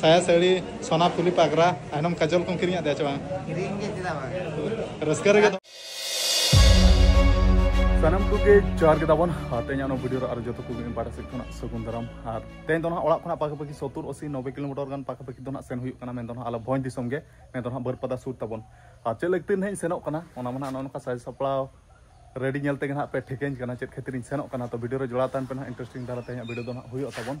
ᱥᱟᱭᱟ ᱥᱟᱹᱲᱤ ᱥᱚᱱᱟ ᱯᱷᱩᱞᱤ ᱯᱟᱜᱽᱨᱟ ᱟᱭᱱᱚᱢ ᱠᱟᱡᱚᱞ ᱠᱚᱢ ᱠᱤᱨᱤᱧᱟᱜ ᱫᱮᱭᱟ ᱪᱮ ᱵᱟᱝ ᱠᱤᱨᱤᱧ ᱜᱮ ᱪᱮᱫᱟᱜ ᱵᱟᱝ ᱨᱟᱹᱥᱠᱟᱹ ᱨᱮᱜᱮ ᱥᱟᱱᱟᱢ ᱠᱚᱜᱮ ᱡᱚᱦᱟᱨ ᱜᱮ ᱛᱟᱵᱚᱱ ᱛᱮᱦᱮᱧ ᱚᱱᱟ ᱵᱷᱤᱰᱤᱭᱳ ᱨᱮ ᱟᱨ ᱡᱚᱛᱚ ᱠᱚᱜᱮ ᱤᱧ ᱯᱟᱦᱴᱟ ᱥᱮᱫ ᱠᱷᱚᱱᱟᱜ ᱥᱟᱹᱜᱩᱱ ᱫᱟᱨᱟᱢ ᱟᱨ ᱛᱮᱦᱮᱧ ᱫᱚ ᱱᱟᱦᱟᱜ ᱚᱲᱟᱜ ᱠᱷᱚᱱᱟᱜ ᱯᱟᱠᱟ ᱯᱟᱠᱤ ᱥᱚᱛᱩᱨ ᱚᱥᱤ ᱱᱚᱵᱮ ᱠᱤᱞᱳᱢᱤᱴᱟᱨ ᱜᱟᱱ ᱯᱟᱠᱟ ᱯᱟᱠᱤ ᱫᱚ ᱱᱟᱦᱟᱜ ᱥᱮᱱ ᱦᱩᱭᱩᱜ ᱠᱟᱱᱟ ᱢᱮᱱ ᱫᱚ ᱱᱟᱦᱟᱜ ᱟᱞᱮ ᱵᱷᱚᱸᱡᱽ ᱫᱤᱥᱚᱢ ᱜᱮ ᱢᱮᱱ ᱫᱚ ᱱᱟᱦᱟᱜ ᱵᱟᱹᱨᱯᱟᱫᱟ ᱥᱩᱨ ᱛᱟᱵᱚᱱ ᱟᱨ ᱪᱮᱫ ᱞᱟᱹᱜᱤᱫ ᱛᱮ ᱱᱟᱦᱟᱜ ᱤᱧ ᱥᱮᱱᱚᱜ ᱠᱟᱱᱟ ᱚᱱᱟ ᱢᱟ ᱱᱟᱦᱟᱜ ᱱᱚᱜᱼᱚ ᱱᱚᱝᱠᱟ ᱥᱟᱡᱽ ᱥᱟᱯᱲᱟᱣ ᱨᱮᱰᱤ ᱧᱮᱞ ᱛᱮᱜᱮ ᱱᱟᱦᱟᱜ ᱯᱮ ᱴᱷᱤᱠᱟᱹᱧ ᱠᱟᱱᱟ ᱪᱮᱫ ᱠᱷᱟᱹᱛᱤᱨ ᱤᱧ ᱥᱮᱱᱚᱜ ᱠᱟᱱᱟ ᱛᱚ ᱵᱷᱤᱰᱤᱭᱳ ᱨᱮ ᱡᱚᱲᱟᱣ ᱛᱟᱦᱮᱱ ᱯᱮ ᱱᱟᱦᱟᱜ ᱤᱱᱴᱟᱨᱮᱥᱴᱤᱝ ᱫᱷᱟᱨᱟ ᱛᱮᱦᱮᱧᱟᱜ ᱵᱷᱤᱰᱤᱭᱳ ᱫᱚ ᱱᱟᱦᱟᱜ ᱦᱩᱭᱩᱜ ᱛᱟᱵᱚᱱ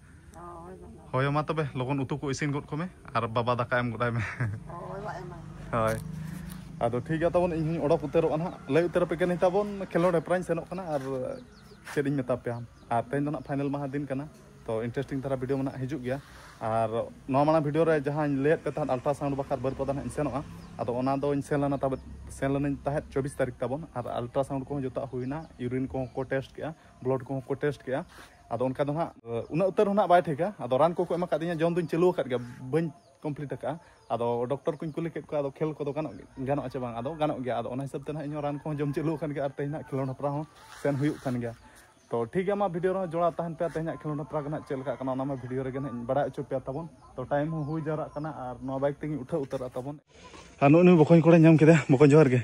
ᱦᱳᱭ ᱢᱟ ᱛᱚᱵᱮ ᱞᱚᱜᱚᱱ ᱩᱛᱩ ᱠᱚ ᱤᱥᱤᱱ ᱜᱚᱫ ᱠᱚᱢᱮ ᱟᱨ ᱵᱟᱵᱟ ᱫᱟᱠᱟ ᱮᱢ ᱜᱚᱫᱟᱭ ᱢᱮ ᱦᱳᱭ ᱟᱫᱚ ᱴᱷᱤᱠ ᱜᱮᱭᱟ ᱛᱟᱵᱚᱱ ᱤᱧ ᱦᱚᱧ ᱚᱰᱚᱠ ᱩᱛᱟᱹᱨᱚᱜᱼᱟ ᱱᱟᱦᱟᱜ ᱞᱟᱹᱭ ᱩᱛᱟᱹᱨ ᱟᱯᱮ ᱠᱟᱹᱱᱟᱹᱧ ᱛᱟᱵᱚᱱ ᱠᱷᱮᱞᱳᱰ ᱦᱮᱯᱨᱟᱣᱤᱧ ᱥᱮᱱᱚᱜ ᱠᱟᱱᱟ ᱟᱨ ᱪᱮᱫ ᱤᱧ ᱢᱮᱛᱟ ᱯᱮᱭᱟ ᱟᱨ ᱛᱮᱦᱮᱧ ᱫᱚ ᱱᱟᱦᱟᱜ ᱯᱷᱟᱭᱱᱮᱞ ᱢᱟᱦᱟ ᱫᱤᱱ ᱠᱟᱱᱟ ᱛᱚ ᱤᱱᱴᱟᱨᱮᱥᱴᱤᱝ ᱫᱷᱟᱨᱟ ᱵᱷᱤᱰᱤᱭᱳ ᱢᱟ ᱱᱟᱦᱟᱜ ᱦᱤᱡᱩᱜ ᱜᱮᱭᱟ ᱟᱨ ᱱᱚᱣᱟ ᱢᱟᱲᱟᱝ ᱵᱷᱤᱰᱤᱭᱳ ᱨᱮ ᱡᱟᱦᱟᱸᱧ ᱞᱟᱹᱭᱟᱫ ᱯᱮ ᱛᱟᱦᱮᱸᱫ ᱟᱞᱴᱨᱟᱥᱟᱣᱩᱱᱰ ᱵᱟᱠᱷᱨᱟ ᱵᱟᱹᱨᱯᱟᱫᱟ ᱱᱟᱦᱟᱜ ᱤᱧ ᱥᱮᱱᱚᱜᱼᱟ ᱟᱫᱚ ᱚᱱᱟ ᱫᱚᱧ ᱥᱮᱱ ᱞᱮᱱᱟ ᱛᱟᱵᱚᱱ ᱥᱮᱱ ᱞᱮᱱᱟᱧ ᱛᱟᱦᱮᱸᱫ ᱪᱚᱵᱵᱤᱥ ᱛᱟᱹᱨᱤᱠᱷ ᱛᱟᱵᱚᱱ ᱟᱨ ᱟᱞᱴᱨᱟᱥᱟᱣᱩᱱᱰ ᱠᱚᱦᱚᱸ ᱡᱚᱛᱚᱣᱟᱜ ᱦᱩᱭᱱᱟ ᱤᱭᱩᱨᱤᱱ ᱠᱚᱦᱚᱸ ᱠᱚ ᱴᱮᱥᱴ ᱠᱮᱜᱼᱟ ᱵᱞᱚᱰ ᱠᱚᱦᱚᱸ ᱠᱚ ᱴᱮᱥᱴ ᱠᱮᱜᱼᱟ ᱟᱫᱚ ᱚᱱᱠᱟ ᱫᱚ ᱦᱟᱸᱜ ᱩᱱᱟᱹᱜ ᱩᱛᱟᱹᱨ ᱦᱚᱸ ᱱᱟᱜ ᱵᱟᱭ ᱴᱷᱤᱠᱟ ᱟᱫᱚ ᱨᱟᱱ ᱠᱚᱠᱚ ᱮᱢ ᱟᱠᱟᱫᱤᱧᱟ ᱡᱚᱢ ᱫᱩᱧ ᱪᱟᱹᱞᱩ ᱟᱠᱟᱫ ᱜᱮᱭᱟ ᱵᱟᱹᱧ ᱠᱚᱢᱯᱞᱤᱴ ᱟᱠᱟᱫᱼᱟ ᱟᱫᱚ ᱰᱚᱠᱴᱚᱨ ᱠᱚᱧ ᱠᱩᱞᱤ ᱠᱮᱫ ᱠᱚᱣᱟ ᱟᱫᱚ ᱠᱷᱮᱞ ᱠᱚᱫᱚ ᱜᱟᱱᱚᱜ ᱜᱟᱱᱚᱜᱼᱟ ᱪᱮ ᱵᱟᱝ ᱟᱫᱚ ᱜᱟᱱᱚᱜ ᱜᱮᱭᱟ ᱟᱫᱚ ᱚᱱᱟ ᱦᱤᱥᱟᱹᱵ ᱛᱮ ᱱᱟᱜ ᱤᱧᱦᱚᱸ ᱨᱟᱱ ᱠᱚᱦᱚᱸ ᱡᱚᱢ ᱪᱟᱹᱞᱩ ᱟᱠᱟᱱ ᱜᱮᱭᱟ ᱟᱨ ᱛᱮᱦᱮᱧ ᱱᱟᱜ ᱠᱷᱮᱞᱳᱰ ᱦᱮᱯᱨᱟᱣ ᱦᱚᱸ ᱥᱮᱱ ᱦᱩᱭᱩᱜ ᱠᱟᱱ ᱜᱮᱭᱟ ᱛᱚ ᱴᱷᱤᱠ ᱜᱮᱭᱟ ᱢᱟ ᱵᱷᱤᱰᱤᱭᱳ ᱨᱮᱦᱚᱸ ᱡᱚᱲᱟᱣ ᱛᱟᱦᱮᱱ ᱯᱮ ᱛᱮᱦᱮᱧᱟᱜ ᱠᱷᱮᱞᱳᱰ ᱦᱮᱯᱨᱟᱣ ᱜᱮ ᱱᱟᱜ ᱪᱮᱫ ᱞᱮᱠᱟᱜ ᱠᱟᱱᱟ ᱚᱱᱟ ᱢᱟ ᱵᱷᱤᱰᱤᱭᱳ ᱨᱮᱜᱮ ᱱᱟᱜ ᱤᱧ ᱵᱟᱲᱟᱭ ᱦᱚᱪᱚ ᱯᱮᱭᱟ ᱛᱟᱵᱚᱱ ᱛᱚ ᱴᱟᱭᱤᱢ ᱦᱚᱸ ᱦᱩᱭ ᱡᱟᱣᱨᱟᱜ ᱠᱟᱱᱟ ᱟᱨ ᱱᱚᱣᱟ ᱵᱟᱭᱤᱠ ᱛᱮᱜᱮᱧ ᱩᱴᱷᱟᱹᱣ ᱩᱛᱟᱹᱨᱚᱜᱼᱟ ᱛᱟᱵᱚᱱ ᱟᱨ ᱱᱩᱜᱼᱩ ᱱᱩᱭ ᱵᱚᱠᱚᱧ ᱠᱚᱲᱟᱧ ᱧᱟᱢ ᱠᱮᱫᱮᱭᱟ ᱵᱚᱠᱚᱧ ᱡᱚᱦᱟᱨ ᱜᱮ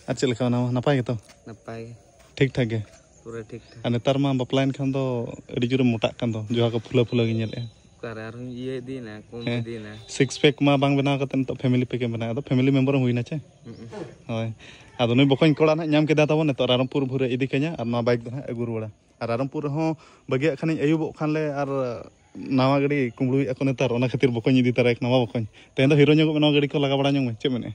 ᱟᱨ ᱪᱮᱫ ᱞᱮᱠᱟ ᱢᱮᱱᱟᱢᱟ ᱱᱟᱯᱟᱭ ᱜᱮᱛᱚ ᱱᱟᱯᱟᱭ ᱜᱮ ᱴᱷᱤᱠ ᱴᱷᱟᱠ ᱜᱮ ᱯᱩᱨᱟᱹ ᱴᱷᱤᱠ ᱴᱷᱟᱠ ᱟᱨ ᱱᱮᱛᱟᱨ ᱢᱟ ᱵᱟᱯᱞᱟᱭᱮᱱ ᱠᱷᱟᱱ ᱫᱚ ᱟᱹᱰᱤ ᱡᱳᱨᱮᱢ ᱢᱚᱴᱟᱜ ᱠᱟᱱ ᱫᱚ ᱡᱚᱦᱟ ᱠᱚ ᱯᱷᱩᱞᱟᱹ ᱯᱷᱩᱞᱟᱹ ᱜᱮ ᱧᱮᱞᱮᱜᱼᱟ ᱚᱠᱟᱨᱮ ᱟᱨᱦᱚᱸ ᱤᱭᱟᱹ ᱤᱫᱤᱭᱮᱱᱟ ᱠᱚᱢ ᱦᱮᱸ᱾ ᱤᱫᱤᱭᱮᱱᱟ ᱥᱤᱠᱥ ᱯᱮᱠ ᱢᱟ ᱵᱟᱝ ᱵᱮᱱᱟᱣ ᱠᱟᱛᱮ ᱱᱤᱛᱚᱜ ᱯᱷᱮᱢᱤᱞᱤ ᱯᱮᱠ ᱮᱢ ᱵᱮᱱᱟᱣ ᱟᱫᱚ ᱯᱷᱮᱢᱤᱞᱤ ᱢᱮᱢᱵᱚᱨ ᱮᱢ ᱦᱩᱭᱱᱟ ᱪᱮ ᱦᱳᱭ ᱟᱫᱚ ᱱᱩᱭ ᱵᱚᱠᱚᱧ ᱠᱚᱲᱟ ᱱᱟᱦᱟᱜ ᱧᱟᱢ ᱠᱮᱫᱟ ᱛᱟᱵᱚᱱ ᱱᱤᱛᱚᱜ ᱨᱟᱨᱚᱢᱯᱩᱨ ᱵᱷᱩᱨᱮ ᱤᱫᱤ ᱠᱟᱹᱧᱟ ᱟᱨ ᱱᱚᱣᱟ ᱵᱟᱭᱤᱠ ᱫᱚ ᱱᱟᱦᱟᱜ ᱟᱹᱜᱩ ᱨᱩᱣᱟᱹᱲᱟ ᱟᱨ ᱨᱟᱨᱚᱢᱯᱩᱨ ᱨᱮᱦᱚᱸ ᱵᱟᱹᱜᱤᱭᱟᱜ ᱠᱷᱟᱱᱤᱧ ᱟᱹᱭᱩᱵᱚᱜ ᱠᱷᱟᱱ ᱞᱮ ᱟᱨ ᱱᱟᱣᱟ ᱜᱟᱹᱰᱤ ᱠᱩᱢᱵᱽᱲᱩᱭᱮᱫ ᱟᱠᱚ ᱱᱮᱛᱟᱨ ᱚᱱᱟ ᱠᱷᱟᱹᱛᱤᱨ ᱵᱚᱠᱚᱧ ᱤᱫᱤ ᱛᱟᱨᱟᱭ ᱠᱟᱱᱟ ᱵᱟ ᱵᱚᱠᱚᱧ ᱛᱮᱦᱮᱧ ᱫᱚ ᱦᱤᱨᱳ ᱧᱚᱜᱚᱜ ᱢᱮ ᱱᱚᱣᱟ ᱜᱟᱹᱰᱤ ᱠᱚ ᱞᱟᱜᱟ ᱵᱟᱲᱟ ᱧᱚᱜ ᱢᱮ ᱪᱮᱫ ᱢᱮᱱᱮᱜᱼᱟ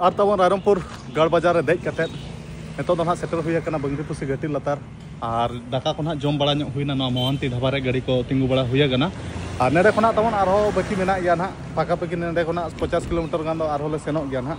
ᱟᱨ ᱛᱟᱵᱚᱱ ᱨᱟᱭᱨᱚᱢᱯᱩᱨ ᱜᱟᱲ ᱵᱟᱡᱟᱨ ᱨᱮ ᱫᱮᱡ ᱠᱟᱛᱮ ᱱᱤᱛᱚᱜ ᱫᱚ ᱱᱟᱦᱟᱜ ᱥᱮᱴᱮᱨ ᱦᱩᱭ ᱟᱠᱟᱱᱟ ᱵᱟᱝᱨᱤ ᱯᱩᱥᱤ ᱜᱷᱟᱹᱴᱤ ᱞᱟᱛᱟᱨ ᱟᱨ ᱫᱟᱠᱟ ᱠᱚ ᱱᱟᱦᱟᱜ ᱡᱚᱢ ᱵᱟᱲᱟ ᱧᱚᱜ ᱦᱩᱭᱱᱟ ᱱᱚᱣᱟ ᱢᱚᱦᱟᱱᱛᱤ ᱫᱷᱟᱵᱟ ᱨᱮ ᱜᱟᱹᱰᱤ ᱠᱚ ᱛᱤᱸᱜᱩ ᱵᱟᱲᱟ ᱦᱩᱭ ᱟᱠᱟᱱᱟ ᱟᱨ ᱱᱚᱰᱮ ᱠᱷᱚᱱᱟᱜ ᱛᱟᱵᱚᱱ ᱟᱨᱦᱚᱸ ᱵᱟᱹᱠᱤ ᱢᱮᱱᱟᱜ ᱜᱮᱭᱟ ᱱᱟᱦᱟᱜ ᱯᱟᱠᱟ ᱯᱟᱹᱠᱤ ᱱᱚᱰᱮ ᱠᱷᱚᱱᱟᱜ ᱯᱚᱪᱟᱥ ᱠᱤᱞᱳᱢᱤᱴᱟᱨ ᱜᱟᱱ ᱫᱚ ᱟᱨᱦᱚᱸ ᱞᱮ ᱥᱮᱱᱚᱜ ᱜᱮᱭᱟ ᱱᱟᱦᱟᱜ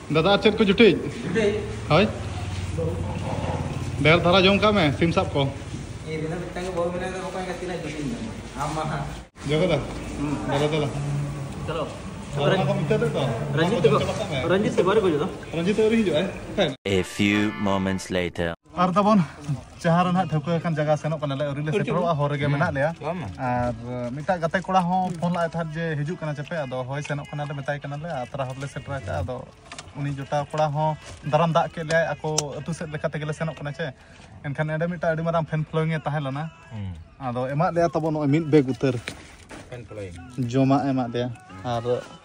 ᱫᱟᱫᱟ ᱪᱮᱫ ᱠᱚ ᱡᱩᱴᱤᱡ ᱦᱳᱭ ᱰᱷᱮᱨ ᱫᱷᱟᱨᱟ ᱡᱚᱢ ᱠᱟᱜ ᱢᱮ ᱥᱤᱢ ᱥᱟᱵ ᱠᱚ ᱡᱚᱜᱚᱫᱟ ᱫᱟᱫᱟ ᱫᱟᱫᱟ ᱪᱚᱞᱚ ᱨᱚᱧᱡᱤᱛ ᱛᱮ ᱵᱟᱨᱮ ᱠᱚ ᱡᱚᱫᱟ ᱨᱚᱧᱡᱤᱛ ᱟᱹᱣᱨᱤ ᱦᱤᱡᱩᱜᱼᱟᱭ A few moments later ᱟᱨ ᱛᱟᱵᱚᱱ ᱡᱟᱦᱟᱸ ᱨᱮ ᱱᱟᱦᱟᱜ ᱴᱷᱟᱹᱣᱠᱟᱹ ᱟᱠᱟᱱ ᱡᱟᱭᱜᱟ ᱥᱮᱱᱚᱜ ᱠᱟᱱᱟᱞᱮ ᱟᱹᱣᱨᱤ ᱞᱮ ᱥᱮᱴᱮᱨᱚᱜᱼᱟ ᱦᱚᱨ ᱨᱮᱜᱮ ᱢᱮᱱᱟᱜ ᱞᱮᱭᱟ ᱟᱨ ᱢᱤᱫᱴᱟᱝ ᱜᱟᱛᱮ ᱠᱚᱲᱟ ᱦᱚᱸ ᱯᱷᱳᱱ ᱞᱟᱜᱼᱟᱭ ᱛᱟᱦᱮᱸᱫ ᱡᱮ ᱦᱤᱡᱩᱜ ᱠᱟᱱᱟ ᱪᱮᱯᱮ ᱟᱫᱚ ᱦᱳᱭ ᱥᱮᱱᱚᱜ ᱠᱟᱱᱟᱞᱮ ᱢᱮᱛᱟᱭ ᱠᱟᱱᱟᱞᱮ ᱟᱛᱨᱟ ᱦᱚᱨ ᱞᱮ ᱥᱮᱴᱮᱨ ᱟᱠᱟᱫᱼᱟ ᱟᱫᱚ ᱩᱱᱤ ᱡᱚᱴᱟᱣ ᱠᱚᱲᱟ ᱦᱚᱸ ᱫᱟᱨᱟᱢ ᱫᱟᱜ ᱠᱮᱫ ᱞᱮᱭᱟᱭ ᱟᱠᱚ ᱟᱹᱛᱩ ᱥᱮᱫ ᱞᱮᱠᱟ ᱛᱮᱜᱮᱞᱮ ᱥᱮᱱᱚᱜ ᱠᱟᱱᱟ ᱪᱮ ᱮᱱᱠᱷᱟᱱ ᱮᱸᱰᱮ ᱢᱤᱫᱴᱟᱝ ᱟᱹᱰᱤ ᱢᱟᱨᱟᱝ ᱯᱷᱮᱱ ᱯᱷᱞᱳᱭᱤᱝ ᱮ ᱛᱟᱦᱮᱸ ᱞᱮᱱᱟ ᱟᱫᱚ ᱮᱢᱟᱜ ᱞᱮᱭᱟ ᱛᱟᱵᱚᱱ ᱱᱚᱜᱼᱚᱭ ᱢᱤᱫ ᱵᱮᱜᱽ ᱩᱛᱟᱹᱨ ᱡᱚᱢᱟᱜ ᱮᱢᱟᱜ ᱞᱮᱭᱟ ᱟᱨ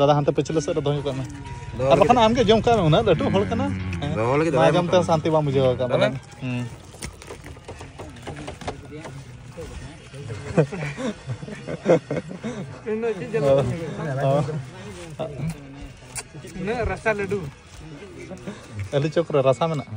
ᱫᱟᱫᱟ ᱦᱟᱱᱛᱮ ᱯᱟᱹᱪᱷᱞᱟᱹ ᱥᱮᱫ ᱨᱮ ᱫᱚᱦᱚ ᱠᱟᱜ ᱢᱮ ᱟᱨ ᱵᱟᱠᱷᱟᱱ ᱟᱢᱜᱮ ᱡᱚᱢ ᱠᱟᱜ ᱢᱮ ᱩᱱᱟᱹᱜ ᱞᱟᱹᱴᱩ ᱦᱚᱲ ᱠᱟᱱᱟ ᱫᱚᱦᱚ ᱞᱟᱹᱜᱤᱫ ᱵᱟᱭ ᱡᱚᱢ ᱛᱮ ᱥᱟᱱᱛᱤ ᱵᱟᱢ ᱵᱩᱡᱷᱟᱹᱣ ᱠᱟᱜ ᱵᱚᱞᱮ ᱩᱱᱟᱹᱜ ᱨᱟᱥᱟ ᱞᱟᱹᱰᱩ ᱟᱹᱞᱩ ᱪᱚᱯ ᱨᱮ ᱨᱟᱥᱟ ᱢᱮᱱᱟᱜᱼᱟ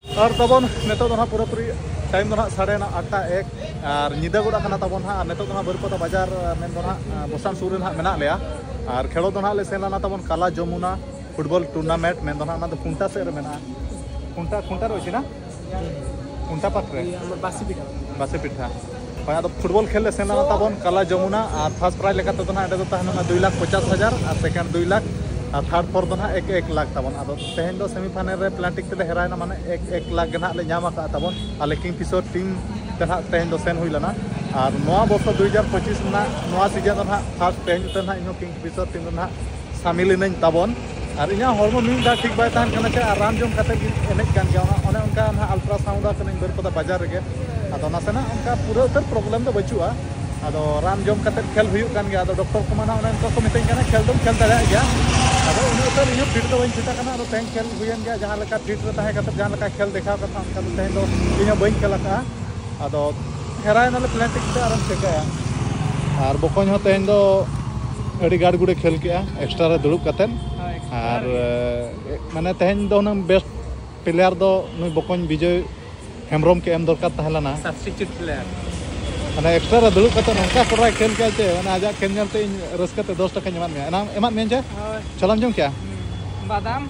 ᱟᱨ ᱛᱟᱵᱚᱱ ᱱᱤᱛᱚᱜ ᱫᱚ ᱱᱟᱦᱟᱜ ᱯᱩᱨᱟᱹᱯᱩᱨᱤ ᱴᱟᱭᱤᱢ ᱫᱚ ᱱᱟᱦᱟᱜ ᱥᱟᱲᱮ ᱱᱟᱦᱟᱜ ᱟᱴᱴᱟ ᱮᱠ ᱟᱨ ᱧᱤᱫᱟᱹ ᱜᱚᱫ ᱟᱠᱟᱱᱟ ᱛᱟᱵᱚᱱ ᱱᱟᱦᱟᱜ ᱟᱨ ᱱᱤᱛᱚᱜ ᱫᱚ ᱱᱟᱦᱟᱜ ᱵᱟᱹᱨᱤᱯᱟᱫᱟ ᱵᱟᱡᱟᱨ ᱢᱮᱱ ᱫᱚ ᱱᱟᱦᱟᱜ ᱵᱚᱥᱟᱱ ᱥᱩᱨ ᱨᱮ ᱱᱟᱦᱟᱜ ᱢᱮᱱᱟᱜ ᱞᱮᱭᱟ ᱟᱨ ᱠᱷᱮᱞᱳᱰ ᱫᱚ ᱱᱟᱦᱟᱜ ᱞᱮ ᱥᱮᱱ ᱞᱮᱱᱟ ᱛᱟᱵᱚᱱ ᱠᱟᱞᱟ ᱡᱚᱢᱩᱱᱟ ᱯᱷᱩᱴᱵᱚᱞ ᱴᱩᱨᱱᱟᱢᱮᱱᱴ ᱢᱮᱱ ᱫᱚ ᱱᱟᱦᱟᱜ ᱚᱱᱟ ᱫᱚ ᱠᱷᱩᱱᱴᱟ ᱥᱮᱫ ᱨᱮ ᱢᱮᱱᱟᱜᱼᱟ ᱠᱷᱩᱱᱴᱟ ᱠᱷᱩᱱᱴᱟ ᱨᱮ ᱚᱪᱮᱱᱟ ᱠᱷᱩᱱᱴᱟ ᱯᱟᱠ ᱨᱮ ᱵᱟᱥᱤ ᱯᱤᱴᱷᱟ ᱵᱟᱥᱤ ᱯᱤᱴᱷᱟ ᱦᱳᱭ ᱟᱫᱚ ᱯᱷᱩᱴᱵᱚᱞ ᱠᱷᱮᱞ ᱞᱮ ᱥᱮᱱ ᱞᱮᱱᱟ ᱛᱟᱵᱚᱱ ᱠᱟᱞᱟ ᱡᱚᱢᱩᱱᱟ ᱟᱨ ᱯᱷᱟᱥᱴ ᱯᱨᱟᱭᱤᱡᱽ ᱞᱮᱠᱟ ᱛᱮᱫᱚ ᱱᱟᱦᱟᱜ ᱚᱸᱰᱮ ᱫᱚ ᱛᱟᱦᱮᱸ ᱞᱮᱱᱟ ᱫᱩᱭ ᱞᱟᱠᱷ ᱯᱚᱪᱟᱥ ᱦᱟᱡᱟᱨ ᱟᱨ ᱥᱮᱠᱮᱱᱰ ᱫᱩᱭ ᱞᱟᱠᱷ ᱟᱨ ᱛᱷᱟᱨᱰ ᱯᱷᱳᱨ ᱫᱚ ᱱᱟᱦᱟᱜ ᱮᱠ ᱮᱠ ᱞᱟᱠᱷ ᱛᱟᱵᱚᱱ ᱟᱫᱚ ᱛᱮᱦᱮᱧ ᱫᱚ ᱥᱮᱢᱤ ᱯᱷᱟᱭᱱᱮᱞ ᱨᱮ ᱯᱞᱟᱱᱴᱤᱠ ᱛᱮᱞᱮ ᱦᱮᱨᱟᱭᱮᱱᱟ ᱢᱟᱱᱮ ᱮᱠ ᱮᱠ ᱞᱟᱠᱷ ᱜᱮ ᱱᱟᱦᱟᱜ ᱞᱮ ᱧᱟᱢ ᱟᱠᱟᱫᱼᱟ ᱛᱟᱵᱚᱱ ᱟᱞᱮ ᱠᱤᱝ ᱠᱤᱥᱳᱨ ᱴᱤᱢ ᱛᱮ ᱱᱟᱦᱟᱜ ᱛᱮᱦᱮᱧ ᱫᱚ ᱥᱮᱱ ᱦᱩᱭ ᱞᱮᱱᱟ ᱟᱨ ᱱᱚᱣᱟ ᱵᱚᱨᱥᱚ ᱫᱩᱭ ᱦᱟᱡᱟᱨ ᱯᱚᱸᱪᱤᱥ ᱨᱮᱱᱟᱜ ᱱᱚᱣᱟ ᱥᱤᱡᱮᱱ ᱫᱚ ᱱᱟᱦᱟᱜ ᱯᱷᱟᱥᱴ ᱛᱮᱦᱮᱧ ᱩᱛᱟᱹᱨ ᱱᱟᱦᱟᱜ ᱤᱧᱦᱚᱸ ᱠᱤᱝ ᱠᱤᱥᱳᱨ ᱴᱤᱢ ᱨᱮ ᱱᱟᱦᱟᱜ ᱥᱟᱢᱤᱞ ᱤᱱᱟᱹᱧ ᱛᱟᱵᱚᱱ ᱟᱨ ᱤᱧᱟᱹᱜ ᱦᱚᱲᱢᱚ ᱢᱤᱫ ᱫᱷᱟᱣ ᱴᱷᱤᱠ ᱵᱟᱭ ᱛᱟᱦᱮᱱ ᱠᱟᱱᱟ ᱪᱮ ᱟᱨ ᱨᱟᱱ ᱡᱚᱢ ᱠᱟᱛᱮ ᱜᱮ ᱮᱱᱮᱡ ᱠᱟᱱ ᱜᱮᱭᱟ ᱚᱱᱟ ᱚᱱᱮ ᱚᱱᱠᱟ ᱱᱟᱦᱟᱜ ᱟᱞᱴᱨᱟ ᱥᱟᱣᱩᱱᱰ ᱟᱜ ᱠᱟᱹᱱᱟᱹᱧ ᱵᱟᱹᱨᱯᱟᱫᱟ ᱵᱟᱡᱟᱨ ᱨᱮᱜᱮ ᱟᱫᱚ ᱱᱟᱥᱮᱱᱟᱜ ᱚᱱᱠᱟ ᱯᱩᱨᱟᱹ ᱩᱛᱟᱹᱨ ᱯᱨᱚᱵᱞᱮᱢ ᱫᱚ ᱵᱟᱹᱪᱩᱜᱼᱟ ᱟᱫᱚ ᱨᱟᱱ ᱡᱚᱢ ᱠᱟᱛᱮ ᱠᱷᱮᱞ ᱦᱩᱭᱩᱜ ᱠᱟᱱ ᱜᱮᱭᱟ ᱟᱫᱚ ᱰᱚᱠᱴᱚᱨ ᱠᱚᱢᱟ ᱱᱟᱦᱟᱜ ᱚᱱᱮ ᱚᱱᱠᱟ ᱠᱚ ᱢᱤᱛᱟᱹᱧ ᱠᱟᱱᱟ ᱠᱷᱮᱞ ᱫᱚᱢ ᱠᱷᱮᱞ ᱫᱟᱲᱮᱭᱟᱜ ᱜᱮᱭᱟ ᱟᱫᱚ ᱩᱱᱟᱹᱜ ᱩᱛᱟᱹᱨ ᱤᱧ ᱦᱚᱸ ᱯᱷᱤᱴ ᱫᱚ ᱵᱟᱹᱧ ᱯᱷᱤᱴ ᱟᱠᱟᱱᱟ ᱟᱫᱚ ᱛᱮᱦᱮᱧ ᱠᱷᱮᱞ ᱦᱩᱭᱮᱱ ᱜᱮᱭᱟ ᱡᱟᱦᱟᱸ ᱞᱮᱠᱟ ᱯᱷᱤᱴ ᱨᱮ ᱛᱟᱦᱮᱸ ᱠᱟᱛᱮ ᱡᱟᱦᱟᱸ ᱞᱮᱠᱟ ᱠᱷᱮᱞ ᱫᱮᱠᱷᱟᱣ ᱠᱟᱛᱷᱟ ᱚᱱᱠᱟ ᱫᱚ ᱛᱮᱦᱮᱧ ᱫᱚ ᱤᱧ ᱦᱚᱸ ᱵᱟᱹᱧ ᱠᱷᱮᱞ ᱟᱠᱟᱫᱼᱟ ᱟᱫᱚ ᱜᱷᱮᱨᱟᱣ ᱮᱱᱟᱞᱮ ᱯᱞᱮᱱ ᱴᱤᱠ ᱛᱮ ᱟᱨᱮᱢ ᱪᱮᱠᱟᱭᱟ ᱟᱨ ᱵᱚᱠᱚᱧ ᱦᱚᱸ ᱛᱮᱦᱮᱧ ᱫᱚ ᱟᱹᱰᱤ ᱜᱟᱲ ᱜᱩᱲᱮ ᱠᱷᱮᱞ ᱠᱮᱜᱼᱟ ᱮᱠᱥᱴᱨᱟ ᱨᱮ ᱫᱩᱲᱩᱵ ᱠᱟᱛᱮᱫ ᱟᱨ ᱢᱟᱱᱮ ᱛᱮᱦᱮᱧ ᱫᱚ ᱦᱩᱱᱟᱹᱝ ᱵᱮᱥᱴ ᱯᱞᱮᱭᱟᱨ ᱫᱚ ᱱᱩᱭ ᱵᱚᱠᱚᱧ ᱵᱤᱡᱚᱭ ᱦᱮᱢᱵᱨᱚᱢ ᱠᱮ ᱮᱢ ᱫᱚᱨᱠᱟᱨ ᱛᱟᱦᱮᱸ ᱞᱮᱱᱟ ᱥᱟᱵᱥᱴᱤᱴᱤᱭᱩᱴ ᱯᱞᱮᱭᱟᱨ ᱢᱟᱱᱮ ᱮᱠᱥᱴᱨᱟ ᱨᱮ ᱫᱩᱲᱩᱵ ᱠᱟᱛᱮᱫ ᱱᱚᱝᱠᱟ ᱠᱚᱨᱟᱭ ᱠᱷᱮᱞ ᱠᱮᱜᱼᱟ ᱪᱮ ᱢᱟᱱᱮ ᱟᱡᱟᱜ ᱠᱷᱮᱞ ᱧᱮᱞᱛᱮ ᱤᱧ ᱨᱟᱹᱥᱠᱟᱹ ᱛᱮ ᱫᱚᱥ ᱴᱟᱠᱟᱧ ᱮᱢᱟᱫ ᱢᱮᱭᱟ ᱮᱱᱟᱝ ᱮᱢᱟᱫ ᱢᱮᱭᱟ ᱪᱮ ᱪᱷᱚᱞᱟᱢ ᱡᱚᱢ ᱠᱮᱜᱼᱟ ᱵᱟᱫᱟᱢ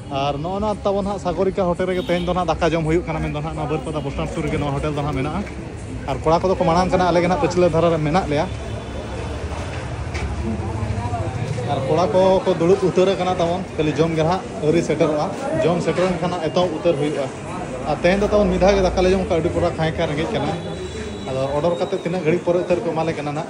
ᱟᱨ ᱱᱚᱜᱼᱚ ᱱᱚᱣᱟ ᱛᱟᱵᱚᱱ ᱦᱟᱸᱜ ᱥᱟᱜᱚᱨᱤᱠᱟ ᱦᱳᱴᱮᱞ ᱨᱮᱜᱮ ᱛᱮᱦᱮᱧ ᱫᱚ ᱦᱟᱸᱜ ᱫᱟᱠᱟ ᱡᱚᱢ ᱦᱩᱭᱩᱜ ᱠᱟᱱᱟ ᱢᱮᱱᱫᱚ ᱦᱟᱸᱜ ᱱᱚᱣᱟ ᱵᱟᱹᱨᱯᱟᱫᱟ ᱵᱚᱥ ᱥᱴᱟᱱᱰ ᱥᱩᱨ ᱨᱮᱜᱮ ᱱᱚᱣᱟ ᱦᱳᱴᱮᱞ ᱫᱚ ᱦᱟᱸᱜ ᱢᱮᱱᱟᱜᱼᱟ ᱟᱨ ᱠᱚᱲᱟ ᱠᱚᱫᱚ ᱠᱚ ᱢᱟᱲᱟᱝ ᱠᱟᱱᱟ ᱟᱞᱮ ᱜᱮ ᱦᱟᱸᱜ ᱯᱟᱹᱪᱷᱞᱟᱹ ᱫᱷᱟᱨᱟ ᱨᱮ ᱢᱮᱱᱟᱜ ᱞᱮᱭᱟ ᱟᱨ ᱠᱚᱲᱟ ᱠᱚ ᱠᱚ ᱫᱩᱲᱩᱵ ᱩᱛᱟᱹᱨ ᱟᱠᱟᱱᱟ ᱛᱟᱵᱚᱱ ᱠᱷᱟᱹᱞᱤ ᱡᱚᱢ ᱜᱮ ᱦᱟᱸᱜ ᱟᱹᱣᱨᱤ ᱥᱮᱴᱮᱨᱚᱜᱼᱟ ᱡᱚᱢ ᱥᱮᱴᱮᱨ ᱞᱮᱱᱠᱷᱟᱱ ᱦᱟᱸᱜ ᱮᱛᱚᱦᱚᱵ ᱩᱛᱟᱹᱨ ᱦᱩᱭᱩᱜᱼᱟ ᱟᱨ ᱛᱮᱦᱮᱧ ᱫᱚ ᱛᱟᱵᱚᱱ ᱢᱤᱫ ᱫᱷᱟᱣ ᱜᱮ ᱫᱟᱠᱟ ᱞᱮ ᱡᱚᱢ ᱠᱟᱜᱼᱟ ᱟᱹᱰᱤ ᱯᱚᱨᱟ ᱠᱷᱟᱸᱭ ᱠᱷᱟᱸᱭ ᱨᱮᱸᱜᱮᱡ ᱠᱟᱱᱟ ᱟᱫᱚ ᱚᱰᱟᱨ ᱠᱟᱛᱮ ᱛᱤᱱᱟᱹᱜ ᱜᱷᱟᱹᱲᱤᱡ ᱯᱚᱨᱮ ᱩᱛᱟᱹᱨ ᱠᱚ ᱮᱢᱟᱞᱮ ᱠᱟᱱᱟ ᱦᱟᱸᱜ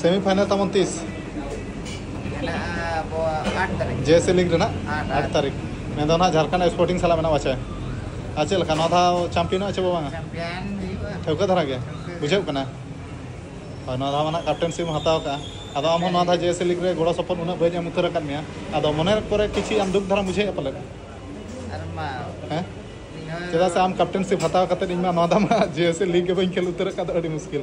ᱥᱮᱢᱤ ᱯᱷᱟᱭᱱᱟᱞ ᱛᱟᱵᱚᱱ ᱛᱤᱥ ᱡᱮ ᱥᱮ ᱞᱤᱜᱽ ᱨᱮᱱᱟᱜ ᱟᱴ ᱛᱟᱹᱨᱤᱠᱷ ᱢᱮᱱ ᱫᱚ ᱱᱟᱦᱟᱜ ᱡᱷᱟᱲᱠᱷᱚᱸᱰ ᱥᱯᱳᱨᱴᱤᱝ ᱥᱟᱞᱟᱜ ᱢᱮᱱᱟᱜᱼᱟ ᱪᱮ ᱟᱨ ᱪᱮᱫ ᱞᱮᱠᱟ ᱱᱚᱣᱟ ᱫᱷᱟᱣ ᱪᱟᱢᱯᱤᱭᱟᱱᱚᱜᱼᱟ ᱪᱮ ᱵᱟᱝᱟ ᱴᱷᱟᱹᱣᱠᱟᱹ ᱫᱷᱟᱨᱟ ᱜᱮ ᱵᱩᱡᱷᱟᱹᱜ ᱠᱟᱱᱟ ᱦᱳᱭ ᱱᱚᱣᱟ ᱫᱷᱟᱣ ᱱᱟᱦᱟᱜ ᱠᱟᱯᱴᱮᱱᱥᱤᱯ ᱮᱢ ᱦᱟᱛᱟᱣ ᱠᱟᱜᱼᱟ ᱟᱫᱚ ᱟᱢ ᱦᱚᱸ ᱱᱚᱣᱟ ᱫᱷᱟᱣ ᱡᱮ ᱥᱮ ᱞᱤᱜᱽ ᱨᱮ ᱜᱚᱲᱚ ᱥᱚᱯᱚᱦᱚᱫ ᱩᱱᱟᱹᱜ ᱵᱟᱹᱧ ᱮᱢ ᱩᱛᱟᱹᱨ ᱟᱠᱟᱫ ᱢᱮᱭᱟ ᱟᱫᱚ ᱢᱚᱱᱮ ᱠᱚᱨᱮ ᱠᱤᱪᱷᱩ ᱟᱢ ᱫᱩᱠ ᱫᱷᱟᱨᱟᱢ ᱵᱩᱡᱷᱟᱹᱣᱮᱫᱼᱟ ᱯᱟᱞᱮᱫ ᱦᱮᱸ ᱪᱮᱫᱟᱜ ᱥᱮ ᱟᱢ ᱠᱟᱯᱴᱮᱱᱥᱤᱯ ᱦᱟᱛᱟᱣ ᱠᱟᱛᱮᱫ ᱤᱧ ᱢᱟ ᱱᱚᱣᱟ ᱫᱷᱟᱣ ᱢᱟ ᱡᱮ ᱥᱮ ᱞᱤᱜᱽ ᱜᱮ ᱵᱟᱹᱧ ᱠᱷᱮᱞ ᱩᱛᱟᱹᱨ ᱟᱠᱟᱫ ᱫᱚ ᱟᱹᱰᱤ ᱢᱩᱥᱠᱤᱞ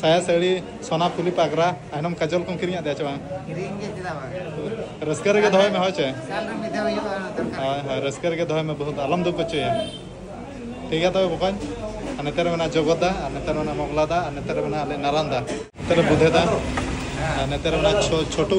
ᱥᱟᱭᱟ ᱥᱟᱹᱲᱤ ᱥᱚᱱᱟ ᱯᱩᱞᱤ ᱯᱟᱜᱽᱨᱟ ᱟᱭᱱᱚᱢ ᱠᱟᱡᱚᱞ ᱠᱚᱢ ᱠᱤᱨᱤᱧᱟᱜ ᱫᱮᱭᱟ ᱪᱮ ᱵᱟᱝ ᱠᱤᱨᱤᱧ ᱜᱮ ᱪᱮᱫᱟᱜ ᱵᱟᱝ ᱨᱟᱹᱥᱠᱟᱹ ᱨᱮᱜᱮ ᱫᱚᱦᱚᱭ ᱢᱮ ᱦᱳᱭ ᱪᱮ ᱥᱟᱞ ᱨᱮ ᱢᱤᱫ ᱫᱷᱟᱣ ᱦᱩᱭᱩᱜᱼᱟ ᱚᱱᱟ ᱫᱚᱨᱠᱟᱨ ᱦᱳᱭ ᱦᱳᱭ ᱨᱟᱹᱥᱠᱟᱹ ᱨᱮᱜᱮ ᱫᱚᱦᱚᱭ ᱢᱮ ᱵᱚᱦᱩᱛ ᱟᱞᱚᱢ ᱫᱩᱠ ᱦᱚᱪᱚᱭᱟ ᱴᱷᱤᱠ ᱜᱮᱭᱟ ᱛᱚᱵᱮ ᱵᱚᱠᱚᱧ ᱟᱨ ᱱᱮᱛᱟᱨ ᱢᱮᱱᱟᱜᱼᱟ ᱡᱚᱜᱚᱫᱟ ᱟᱨ ᱱᱮᱛᱟᱨ ᱢᱮᱱᱟᱜᱼᱟ ᱢᱚᱜᱽᱞᱟᱫᱟ ᱟᱨ ᱱᱮᱛᱟᱨ ᱢᱮᱱᱟᱜᱼᱟ ᱟᱞᱮ ᱱᱟᱨᱟᱱᱫᱟ ᱱᱮᱛᱟᱨ ᱵᱩᱫᱷᱮᱫᱟ ᱟᱨ ᱱᱮᱛᱟᱨ ᱢᱮᱱᱟᱜᱼᱟ ᱪᱷᱚ- ᱪᱷᱳᱴᱩ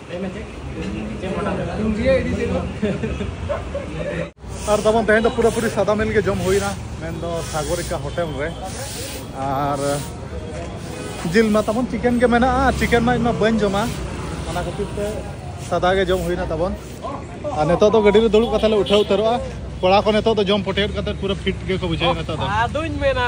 ᱟᱨ ᱛᱟᱵᱚᱱ ᱛᱮᱦᱮᱧ ᱫᱚ ᱯᱩᱨᱟᱹ ᱯᱩᱨᱤ ᱥᱟᱫᱟ ᱢᱤᱞ ᱜᱮ ᱡᱚᱢ ᱦᱩᱭᱱᱟ ᱢᱮᱱ ᱫᱚ ᱥᱟᱜᱚᱨᱤᱠᱟ ᱦᱳᱴᱮᱞ ᱨᱮ ᱟᱨ ᱡᱤᱞ ᱢᱟ ᱛᱟᱵᱚᱱ ᱪᱤᱠᱮᱱ ᱜᱮ ᱢᱮᱱᱟᱜᱼᱟ ᱪᱤᱠᱮᱱ ᱢᱟ ᱤᱧ ᱢᱟ ᱵᱟᱹᱧ ᱡᱚᱢᱟ ᱚᱱᱟ ᱠᱷᱟᱹᱛᱤᱨ ᱛᱮ ᱥᱟᱫᱟ ᱜᱮ ᱡᱚᱢ ᱦᱩᱭᱱᱟ ᱛᱟᱵᱚᱱ ᱟᱨ ᱱᱤᱛᱚᱜ ᱫᱚ ᱜᱟᱹᱰᱤ ᱨᱮ ᱫᱩᱲᱩᱵ ᱠᱟᱛᱮ ᱞᱮ ᱩᱴᱷᱟᱹᱣ ᱩᱛᱟᱹᱨᱚᱜᱼᱟ ᱠᱚᱲᱟ ᱠᱚ ᱱᱤᱛᱚᱜ ᱫᱚ ᱡᱚᱢ ᱯᱚᱴᱮᱴ ᱠᱟᱛᱮ ᱯᱩᱨᱟᱹ ᱯᱷᱤᱴ ᱜᱮᱠᱚ ᱵᱩᱡᱷᱟᱹᱣᱟ ᱱᱤᱛᱚᱜ ᱫᱚ ᱟᱫᱚᱧ ᱢᱮᱱᱟ